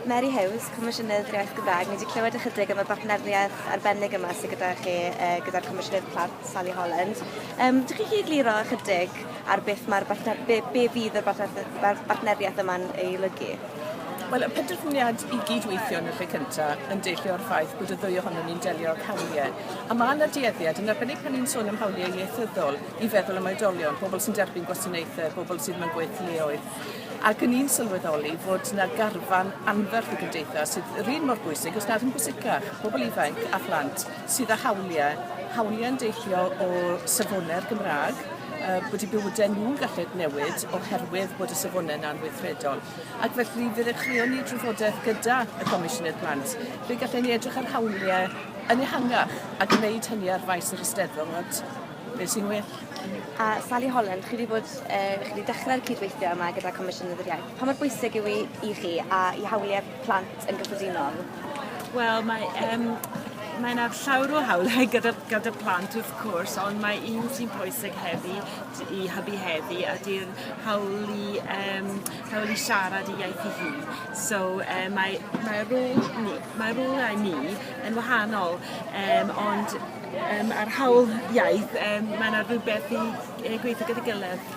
Mary Hughes, Comisiynydd yr Iaith Gymraeg. Ni wedi clywed ychydig am y bartneriaeth arbennig yma sydd gyda chi uh, gyda'r Comisiynydd Plant, Sally Holland. Um, dych chi chi egluro ychydig ar beth mae'r bartner, be, be fydd y bartneriaeth yma'n ei lygu? Wel, y penderfyniad i gydweithio yn y lle cyntaf yn deillio o'r ffaith bod y ddwy ohonom ni'n delio â'r hawliau. A mae yna dueddiad, yn arbennig pan ni'n sôn am hawliau ieithyddol, i feddwl am oedolion, pobl sy'n derbyn gwasanaethau, pobl sydd mewn gweithleoedd. Ac yn i'n sylweddoli fod 'na garfan anferth y gymdeithas sydd yr un mor bwysig, os nad yn bwysicach, pobl ifanc a phlant sydd â hawliau, hawliau'n deillio o safonau'r Gymraeg, yy bod 'u bywydau nhw'n gallu newid oherwydd bod y safonau 'na'n weithredol. Ac felly fe ddechreuon ni drafodaeth gyda y Comisiynydd Plant, fe gallen ni edrych ar hawliau yn ehangach a gwneud hynny ar faes yr Eisteddfod. Beth sy'n well? A Sally Holland, chi wedi bod, e, chi wedi dechrau'r cydweithio yma gyda Comisiynedd yr Iaith. Pa mor bwysig yw i, i chi a i hawliau plant yn gyffredinol? Wel, mae um, mae yna llawr o hawliau gyda, gyda plant wrth cwrs, ond mae un sy'n pwysig heddi i hybu heddi a di'r hawl i, um, hawl i siarad i iaith i hun. So uh, mae, mae rôl ni, mae rôl ni yn wahanol, um, ond Yym a'r hawl iaith yym mae yna rhywbeth i yy gweithio gyda'i gilydd.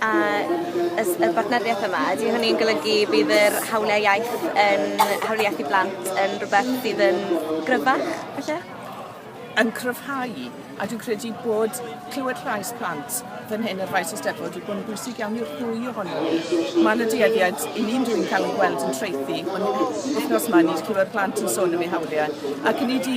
A y s- y bartneriaeth yma ydy hynny'n golygu bydd yr hawliau iaith yn hawliau iaith i blant yn rhywbeth sydd yn gryfach falle? yn cryfhau a dwi'n credu bod clywed llais plant fan hyn yn faes Eisteddfod wedi bod yn bwysig iawn i'r ddwy ohonyn nhw. Mae yna dueddiad i ni'n dwi'n cael ei gweld yn traethu ond wythnos yma ni wedi clywed plant yn sôn am eu hawliau ac 'yn ni 'di